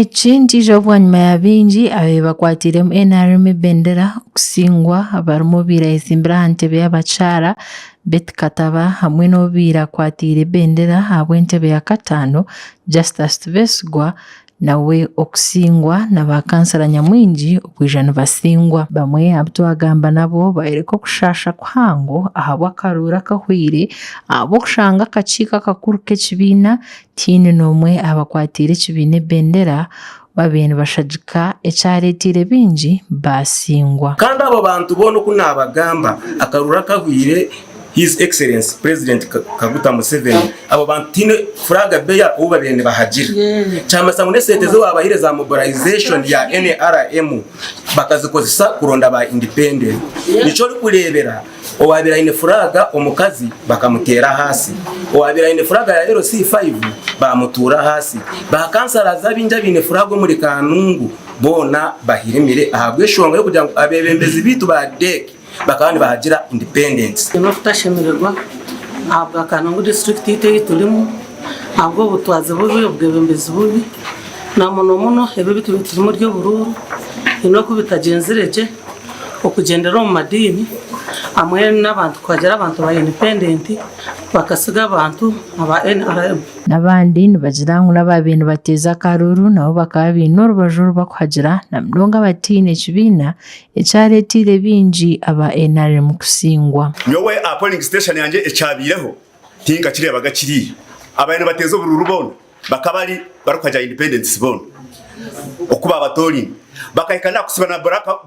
Eki nikiija bwanyima ya baingi abaabaire bakwatiiremu nrm ebendera okusingwa abarimu abaabaire beetsimbire aha ntebe y'abakyara Beti Kataba hamwe n'owaabaire akwatiire ebendera ahabw'entebe ya kataano Justus Tubetsigwa Nawe okusingwa na ba kansara nyamwingi okwija nibasingwa. Bamwe abu twagamba nabo bayoreka okushaasha kuhango ahabw'akaruuru akahweire ahabw'okushanga akakiiko akakuru k'ekibiina tihaine n'omwe abakwatiire ekibiina ebendera babire nibashagika ekyareteire baingi baasingwa. Kandi abo bantu boona oku naabagamba akaruuru akahweire His Excellency President Kaguta Museveni abo bantu tihaine flag bearer ou babaire nibahagira. Kyamanyiisa ngu n'esente ezi waabahaire za mobilization ya NRM bakazikozesa kuronda ba independent. Nikyo orikureebera owaabaire aine flag omukazi bakamuteera ahansi, owaabaire aine flag ya LC five baamutuura ahansi, ba councillors abaingi abaine flag omuri Kanungu boona bahirimire ahabw'enshonga y'okugira ngu abeebembezi baitu ba DEC, bakaba nibahagira independence. Ni okutashemererwa ahabw'akaana ngu disiturikiti itwe ei turimu ahabw'obutwazi bubi, obwebembezi bubi na muno muno ebi ebi turiyo niturimu ery'oburuuru haine oku bitagyenzire gye okugyendera omu madiini hamwe n'abantu kuhagira abantu ba indipendenti bakatsiga abantu aba nrm. N'abandi nibagira ngu n'abaabaire nibateeza akaruuru nabo bakaba baine orubaju oru bakuhagira na munonga abataine kibiina ekyareeteire baingi aba nrm kutsingwa. Nyowe aha polling station yangye ekyabaireho tinkakireebaga kiriiya. Abaabaire nibateeza oburuuru boona bakaba ari barikuhagya independents boona oku baabatooraine. Bakahika n'aha kutsiba na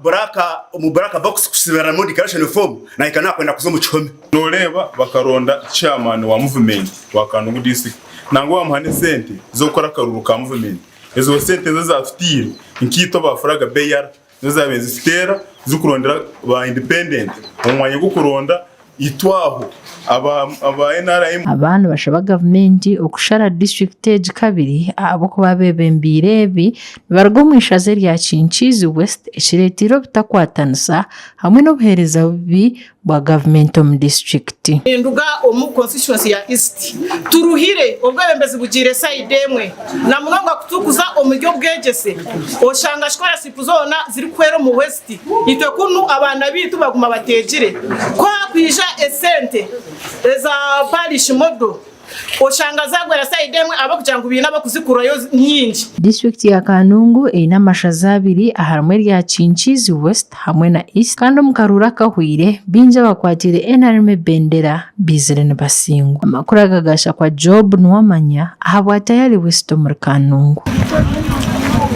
buraaka omu buraaka box kutsibiramu declaration form nahika n'aha kwenda kuza omu kihome. Nooreeba bakaronda chairman wa muvumenti wa Kandungu district nangwa bamuha n'esente z'okukora akaruuru ka muvumenti. Ezo sente nizo ezaatutaire nkaitwe ba Furaga BR Nizo zaabaire nizituteera zikurondera ba independent omu mwanya gw'okuronda itwe aho aba nrm. Aba nibashaba gavumenti okushara district egi kabiri ahabw'okuba abebembeire ebi nibaruga omu ishaza erya Kinkiizi West ekireteire obutakwatanisa hamwe n'obuhereza bubi bwa gavumenti omu disiturikiti. Ninduga omu konsituwensi ya East. Turuhire obwebembezi bugiire sayidi emwe na munonga ku turikuza omu by'obwegyese. Oshanga sikorasipu zoona zirikuhwera omu West itwe kunu abaana baitu baguma bateegire. Ku haakwija esente eza paarishi modo, Oshanga zagwera sayidi emwe ahabw'okugira ngu baine abakuzikurayo nyingi. Disiturikiti ya Kanungu eine amashaza abiri aharimu erya Kinkiizi West hamwe na East kandi omu karuuru akahweire baingi abakwatiire nrm ebendera baizire nibasingwa. Amakuru aga gashakwa Job Nuwamanya ahabwa Tayari West omuri Kanungu.